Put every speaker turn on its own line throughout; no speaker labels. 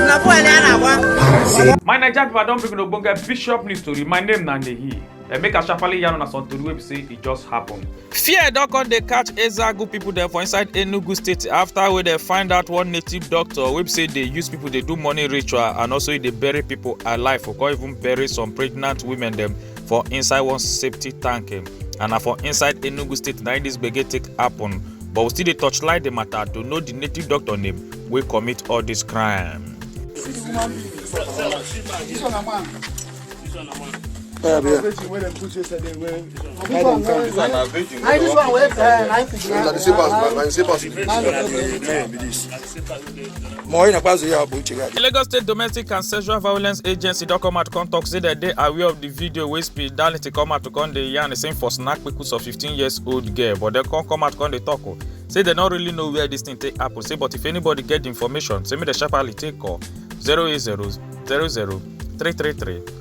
na boy na na wa. my naija pipo i don bring una ogbonge bishop news tori my name na nehi dem make asafale yarn una some tori wey be say e just happen. fear don come dey catch ezagu pipo dem for inside enugu state afta wey dem find out one native doctor wey be say dey use pipo dey do money ritual and also e dey bury pipo alive for come even bury some pregnant women dem for inside one safety tank eh, and na for inside enugu state na this gbege take happen but we still dey torchlight the matter to know the native doctor name wey commit all this crime. Yeah, yeah. This one na virgin. This one na virgin. This one na virgin. More in Akwazu ya bụ Uchegadi. The Lagos State Domestic and Sexual Violence Agency don come out to come talk say dem dey aware of the video wey Speed Darlington come out to come dey yarn same for snack pickles of 15 years old girl but dem come come out come dey talk o oh. say dem no really know where this thing take happen say but if anybody get the information say make dem sharply take call 080 00 333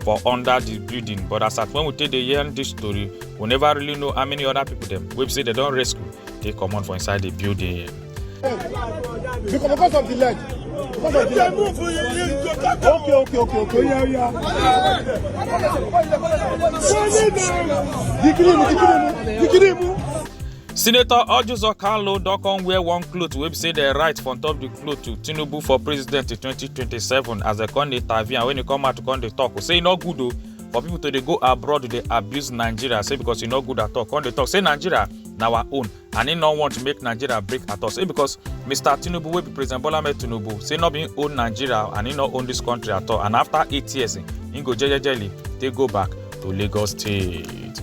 for under di building but as at when we take dey hear dis story we never really know how many other people dem wey be say dem don rescue take comot for inside di building. because of the leg because of the leg okay okay okay okay oya oya jikiri mu jikiri mu jikiri mu. senator ojuzo kalo don come wear one cloth wey be say dem write for top di cloth to tinubu for president in 2027 as dem come dey tavi and wen e come out to come dey tok say e no good o for pipo to dey go abroad dey abuse nigeria say becos e no good at all come dey tok say nigeria na our own and e no want make nigeria break at all say becos mr tinubu wey be president bola ahmed tinubu say no be im own nigeria and e no own dis country at all and afta eight years im go jejely take go back to lagos state.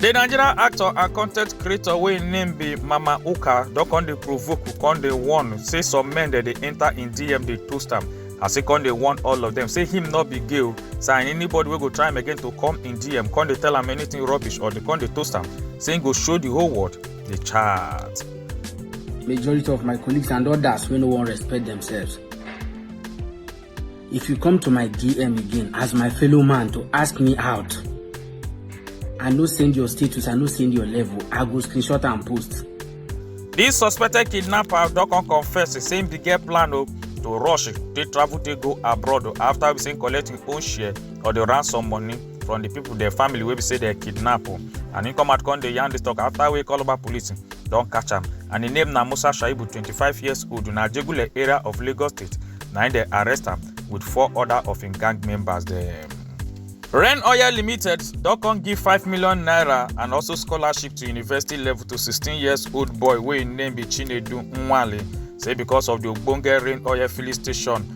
di nigerian actor and content creator wey im name be mama uka don come dey provoke come dey warn say some men dem dey enter im dm dey toast am as e come dey warn all of dem say him no be gay o say and anybody wey go try am again to come im dm come dey tell am anything rubbish or dey come dey toast am say im go show the whole world the chart. majority of my colleagues and others wey no wan respect themselves If you come to my DM again as my fellow man to ask me out, I no send your status, I no send your level, I go screenshot and post. This suspected kidnapper don come confess say him bin get plan o to rush take travel take go abroad after we say him collect him own share of the ransom money. from the people their family wey be say dem kidnap o and he come out come dey yarn this talk after wey calabar police don catch am and him name na musa shaibu twenty-five years old na ajegule area of lagos state na him dem arrest am with four other of him gang members dem. Ren Oil Limited don come give five million naira and also scholarship to university level to sixteen years old boy wey im name be Chinedu Nwale say because of the ogbonge Ren Oil filling station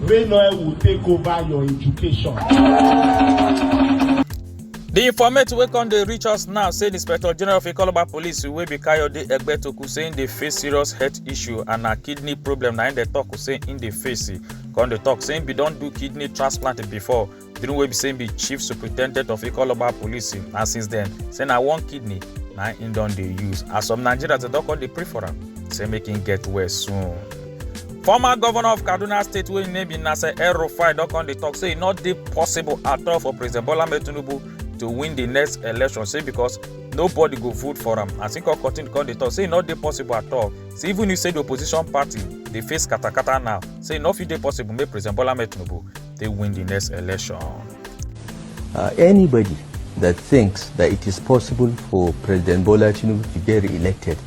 Rain oil will take over your education. di informate wey come dey reach us now say di inspector general of ikoloba police wey be kayode egbetoku say im dey face serious health issue and na kidney problem na im dey tok say im dey face come dey tok say im bin don do kidney transplant before the one wey be say him be chief superintendent of ikoloba police na since then say na one kidney na him don dey use as some nigerians dey don come dey pray for am say make him get well soon. former governor of kaduna state wey im name be nasser el-rufai don come dey talk say e no dey possible at all for president bola ahmed tinubu to win the next election say because nobody go vote for am as im come continue come dey talk say e no dey possible at all say even if say the opposition party dey face katakata now say e no fit dey possible make president bola ahmed tinubu take win the next election. Uh, anybody that thinks that it is possible for President Bola Tinubu to get re-elected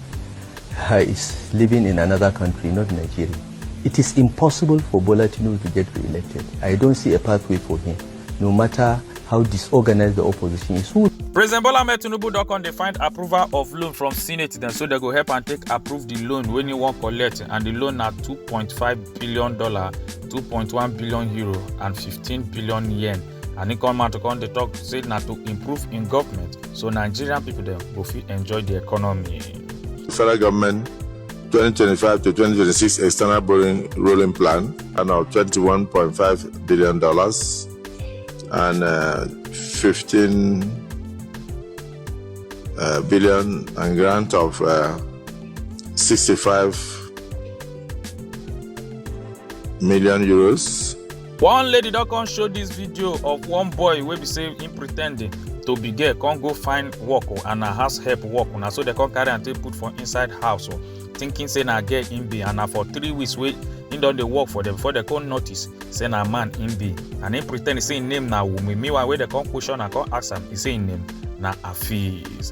uh, is living in another country, not Nigeria. It is impossible for Bola Tinubu to get re-elected. I don't see a pathway for him, no matter how disorganized the opposition is. Who President Bola Ahmed Tinubu don come dey find approval of loan from Senate dem so dem go help am take approve the loan wey he wan collect and the loan na two point five billion dollar two point one billion euro and fifteen billion yen and he come out to come dey talk say na to improve im government so nigerian pipo dem go fit enjoy di economy. federal government 2025 to 2026 external borrowing rolling plan and of 21.5 billion dollars and uh, 15 uh, billion and grant of uh, 65 million euros. one lady don come show dis video of one boy wey be say im pre ten d to be girl come go find work o and na house help work o na so dem come carry am take put for inside house o thinking say na girl im be and na for three weeks wey im don dey work for dem before dem come notice say na man im be and im pre ten d say im name na wumi meanwhile wey dem come question am come ask am e say im name na hafiz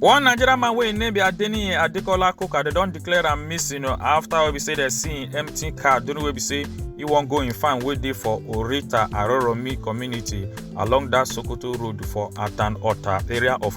one nigerian man wey im name be adeniyi adekola koka dem don declare am missing after wey be say dem see im empty car during wey be say e wan go im farm wey dey for orita aroromi community along dat sokoto road for atan ota area of